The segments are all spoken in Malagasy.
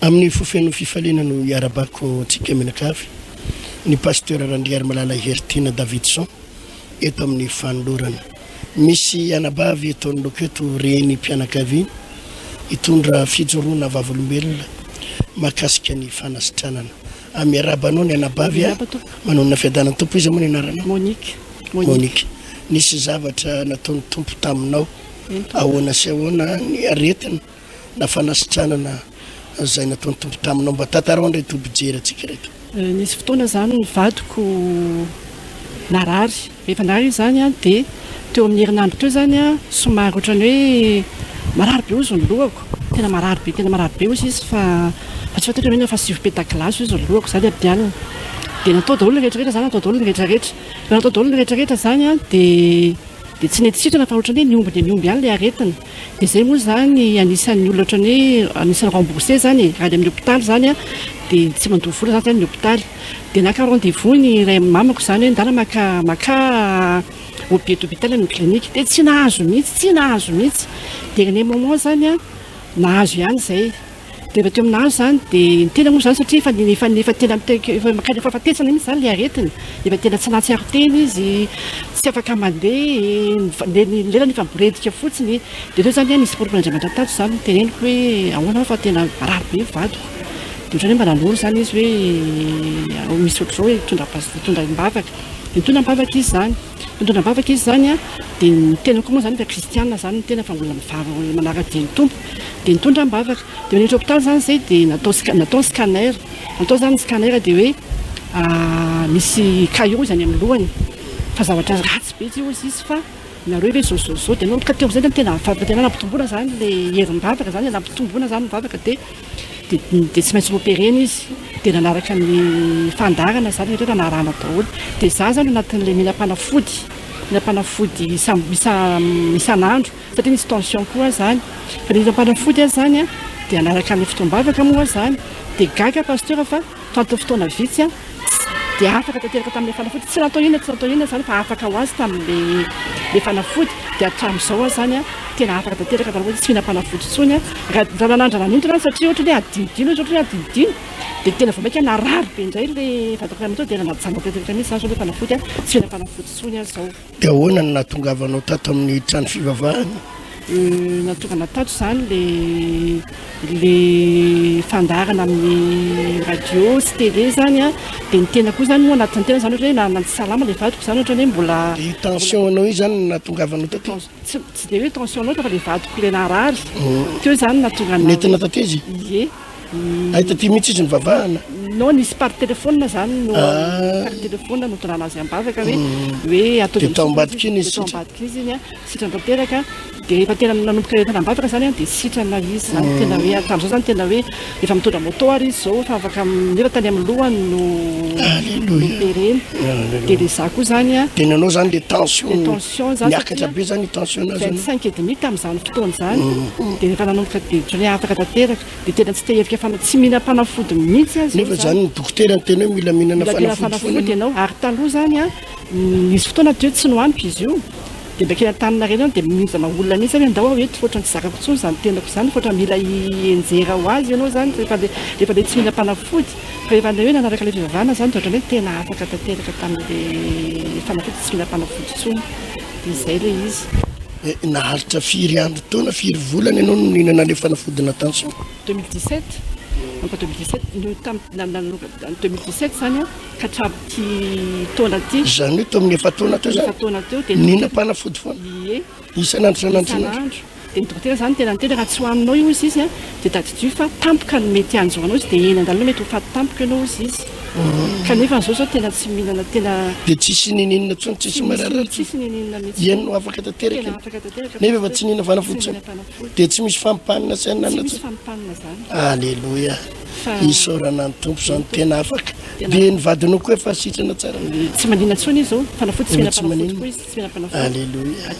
Amin'ny fo feno fifaliana no iarabako antsika mianakavy, ny Pasteur Randriarimalala Heritiana Davidson eto amin'ny fanolorana. Misy anabavy eto anoloako eto renim-pianakaviana hitondra fijoroana vavolombelona mahakasika ny fanasitranana. Ah, miarahaba anao ny anabavy a! Miarahaba Tompo. Manonona fiadanan'ny Tompo. Iza moa ny anaranao? Monique. Monique. Nisy zavatra nataon'ny Tompo taminao. Eny Tompo. Ahoana sy ahoana ny aretina? na fanasitranana izay nataon'ny Tompo taminao. Mba tantarao indray toa mpijery antsika ireto. Eh, nisy fotoana izany ny vadiko narary. Rehefa narary izany an, dia teo amin'ny herinandro teo izany an, somary ohatran'ny hoe marary be ozy ny lohako. Tena marary be, tena marary be ozy izy fa fa tsy fantatro hoe na fa sivy petagilasy ozy ny lohako izany ady alina. Dia natao daholo ny rehetrarehetra izany, natao daholo ny rehetrarehetra. Rehefa natao daholo ny rehetrarehetra izany an, dia dia tsy nety sitrana fa ohatran'ny hoe ny omby dia ny omby ihany ilay aretina. Dia izay moa izany anisan'ny olona ohatran'ny hoe anisan'ny remboursé izany e, any amin'ny hopitaly izany an, dia tsy mandoa vola izany izany ny hopitaly. Dia naka rendez vous ny iray amin'ny mamako izany hoe ndana maka maka au pied d'hôpital any amin'ny clinique. Dia tsy nahazo mihitsy, tsy nahazo mihitsy. Dernier moment izany an, nahazo ihany izay. dia raha teo aminà izany dia ny tena moa izany satria efa efa efa tena mitaky efa maka efa fahatezana mihitsy izany ilay aretina efa tena tsy nahatsiaro tena izy tsy afaka mandeha dia ny lelany efa miboredika fotsiny dia teo izany nisy porofo an'Andriamanitra tato izany niteneniko hoe ahoana aho fa tena marary be ny vadiko dia ohatran'ny hoe mba nanoro izany izy hoe misy ohatr'izao e, mitondra pas- mitondra am-bavaka, nitondra am-bavaka izy izany Mitondra am-bavaka izy izany dia ny tena koa moa izany efa kristiana izany ny tena fa mbola mivavaka mbola manara-dia ny Tompo dia nitondra am-bavaka dia rehefa hopitaly izany izay dia natao sca- natao ny scanner natao izany ny scanner dia hoe misy caillot izany amin'ny lohany fa zavatra ratsy be tsy hozy izy fa nareo ve zao zao zao dia anao ka teo amin'izay dia tena vavaka tena nampitomboina izany ilay herim-bavaka izany nampitomboina izany ny vavaka dia dia tsy maintsy noopérer-na izy dia nanaraka ny fandaharana izany rehetra rehetra narahana daholo dia izaho izany anatin'ilay mila mpanafody mila mpanafody isan'andro satria nisy tension koa aho izany fa ilay mila mpanafody aho izany dia hanaraka ny fotoam-bavaka moa aho izany dia gaga pasteur fa Tato fotoana vitsy aho dia afaka tanteraka tamin'ilay fanafody, tsy natao inona tsy natao inona izany fa afaka ho azy tamin'ilay fanafody, dia hatramin'izao aho izany an, tena afaka tanteraka tamin'ilay hoe tsy mihinam-panafody intsony aho, Rananandra nanintona aho satria ohatran'ny hoe hadinodino izy, ohatran'ny hoe hadinodino, dia tena vao mainka narary be indray ilay vatako iray manontolo dia nanajana tanteraka mihintsy izany izao ilay fanafody an, tsy mihinam-panafody intsony aho izao. Dia ahoana no nahatongavanao tato amin'ny trano fivavahana? Nahatongana tato izany ilay ilay fandaharana amin'ny radio sy télé izany an, dia ny tenako io izany moa anatin'ny tena izany ohatran'ny hoe na na tsy salama ilay vadiko izany ohatran'ny hoe mbola. Io tension-nao io izany no nahatongavanao taty? Tsy tsy dia hoe tension loatra fa ilay vadiko ilay narary teo izany no nahatonga anà. Nentina taty izy? Ie. Hay taty mihitsy izy nivavahana. Non, nisy par téléphone zany no ah. par téléphone no tondrana azy ambavaka hoe mm. hoe ataovy amin'ny ambadika iny izy. Ambadika izy iny a, sitrana tanteraka dia efa tena nanomboka entana ambavaka zany a dia sitrana izy zany mm. tena hoe hatramin'izao zany tena hoe efa mitondra moto ary izy zao efa afaka nefa tany amin'ny lohany no pereny. Dia le za koa zany a. Dia nanao zany le tension. Niakatra be zany tension nazy anao. Vingt cinq et demi tamin'izany fotoana izany dia rehefa nanomboka dia ohatran'ny hoe afaka tanteraka dia tena tsy te hihevitra fana- tsy mihinana fanafody mihitsy aza izy Nefa izany. zany ny dokotera ny teny hoe mila mihinana Mila mihinana fanafody foana fanafody ianao. ianao ary taloha zany a nisy fotoana teo tsy no ampy izy io dia mba kely antaninarenina any dia mihinjana olona mihitsy zany hoe ndao aho eto fa ohatran'ny tsy zakako intsony izany tenako izany fa ohatran'ny mila hienjera ho azy ianao izany rehefa le rehefa le tsy mihinam-panafody Rehefa handeha hoe nanaraka ilay fivavahana izany dia ohatran'ny hoe tena afaka tanteraka tamin'ilay fanafody tsy mila mpanafody intsony. Dia izay ilay izy. Naharitra firy andro taona, firy volana ianao no nihinana ilay fanafody natansao? 2017, manomboka 2017, no tamin'ny nanomboka 2017 izany an, ka hatramin'ity taona ity. Izany hoe teo amin'ny efa-taona teo izany? Efa-taona teo dia. Nihinam-panafody foana? Ie. Isan'andro isan'andro isan'andro. Dia ny dokotera izany tena niteny raha tsy ho aminao io hozy izy a, dia tadidio fa tampoka no mety hanjo anao izy, dia eny an-dalana mety ho faty tampoka ianao hozy izy. Kanefa an'izao izao tena tsy mihinana tena. Dia tsisy ninianina intsony, tsisy marary intsony. Tsisy ninianina mihitsy. Iany no afaka tanteraka. Tena afaka tanteraka. Nefa efa tsy nihinana fanafody intsony. Dia tsy misy fampanina sy hanina intsony. Tsy misy fampanina izany. Aleloia. Isaorana ny Tompo izany tena afaka. Dia ny vadinao koa efa sitrana tsara. Tsy maninona intsony izy izao, fanafody tsy mihinana fanafody koa izy. Aleloia.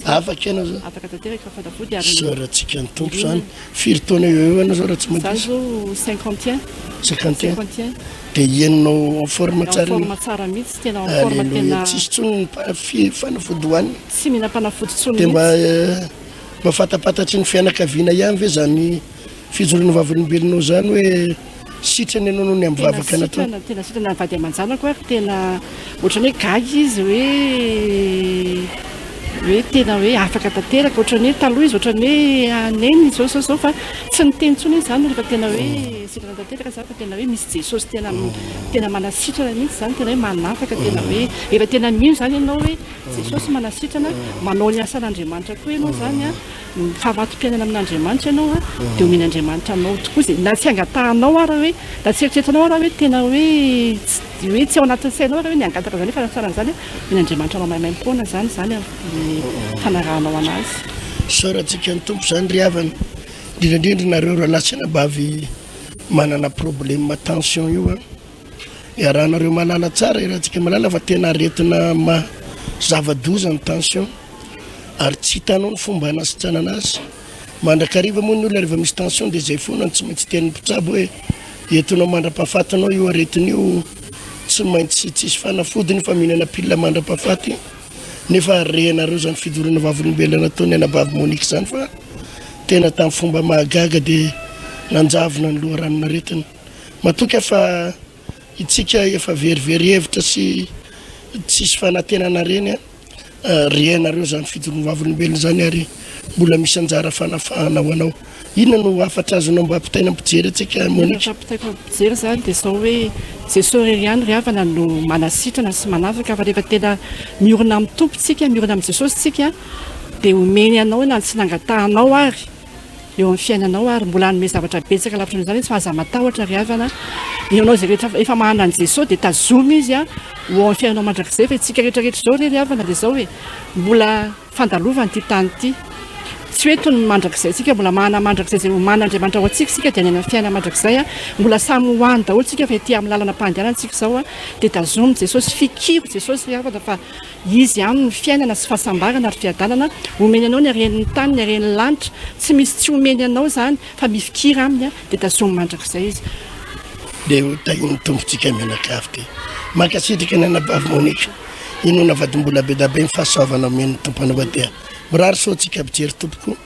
Afaka ianao zao. Afaka tanteraka fa fantafoty ary. Soratsika ny tompo zany. Firy taona eo eo anao zao raha tsy madiso? Za zao cinquante et un. Cinquante et un. Cinquante et un. De ianao en forme tsara. En forme tsara mihitsy tena en forme tena. Aleloia. Tsisy tsony fi- fanafody hoanina. Tsy mihina fanafody tsony mihitsy. De mba mafantapatatry ny fianakaviana ihany ve zany. Fijoroana vavolombelonao izany hoe sitrana ianao noho ny amin'ny vavaka nataony? Tena sitrana, tena sitrana ny vady aman-janako ary tena ohatran'ny hoe gaga izy hoe hoe tena hoe afaka tanteraka, ohatran'ny hoe taloha izy ohatran'ny hoe hanenina izao izao izao fa tsy niteny intsony izy izany rehefa tena hoe sitrana tanteraka izany fa tena hoe misy Jesosy tena tena manasitrana mihitsy izany, tena hoe manafaka, tena hoe rehefa tena mino izany ianao hoe Jesosy manasitrana, manao ny asan'Andriamanitra koa ianao izany an. Mifamato-piainana amin'Andriamanitra ianao a, dia omen'Andriamanitra anao tokoa izay, na tsy angatahanao ara hoe, na tsy eritreretinao ara hoe tena hoe tsy hoe tsy ao anatin'ny sainao ara hoe ny hangataka izany hoe fanatsarana izany a, omen'Andriamanitra anao maimaim-poana izany izany a, ny fanarahanao an'Azy. Isaorantsika ny Tompo izany ry havana, indrindra indrindra nareo rahalahy sy anabavy manana problème tension io a, Iarahanareo mahalala tsara i Ratsikimalala fa tena aretina maha zava-doza ny tension ary tsy hitanao ny fomba hanasitranana azy. Mandrakariva moa ny olona rehefa misy tension dia izay foana no tsy maintsy tenin'ny mpitsabo hoe entinao mandra-pahafatinao io aretina io, tsy maintsy tsisy fanafody ny faminana pilina mandra-pahafaty nefa rehenareo izany fidoroana vavolombelona nataon'ny anabavy Monique izany fa tena tamin'ny fomba mahagaga dia nanjavona ny loharanon' aretina. Matokia fa itsika efa very very hevitra sy tsisy fanantenana reny a! Rehenareo zany fidorohana vavolombelona zany ary mbola misy anjara fanafahana ho anao. Inona no hafatra azonao mba ampitaina ampijery antsika Monique? Ampitaiko ampijery zany de zao hoe Jesosy irery ihany ry havana no manasitrana sy manafaka fa rehefa tena miorina amin'ny Tompo tsika, miorina amin'i Jesosy tsika de omeny anao na tsy nangatahanao ary. eo amin'ny fiainanao ary mbola hanome zavatra betsaka lavitra noho izany izy fa aza matahotra ry havana dia ianao izay rehetra efa manana an'i Jesosy dia tazomy izy a ho ao amin'ny fiainanao mandrakizay fa isika rehetra rehetra izao re ry havana dia izao e mbola fandalovana ity tany ity tsy hoe toy ny mandrakizay isika mbola manana mandrakizay izay oman'Andriamanitra ao antsika isika dia hanena ny fiainana mandrakizay a mbola samy ho any daholo isika fa ety amin'ny lalana-pahandehanana antsika izao a dia tazomy Jesosy fikiro Jesosy ry havana fa Izy ihany no fiainana sy fahasambarana ary fiadanana, omeny anao ny haren'ny tany, ny haren'ny lanitra, tsy misy tsy omeny anao izany fa mifikira aminy dia tazomy mandrakizay izy. Dia ho tahin'ny Tompo tsika mianakavy ty. Mankasitraka ny anabavy Monica. Inoana vadimbolabedabe ny fahasoavana omen'ny Tompo anao aty a. Mirary soa tsika mpijery tompoko.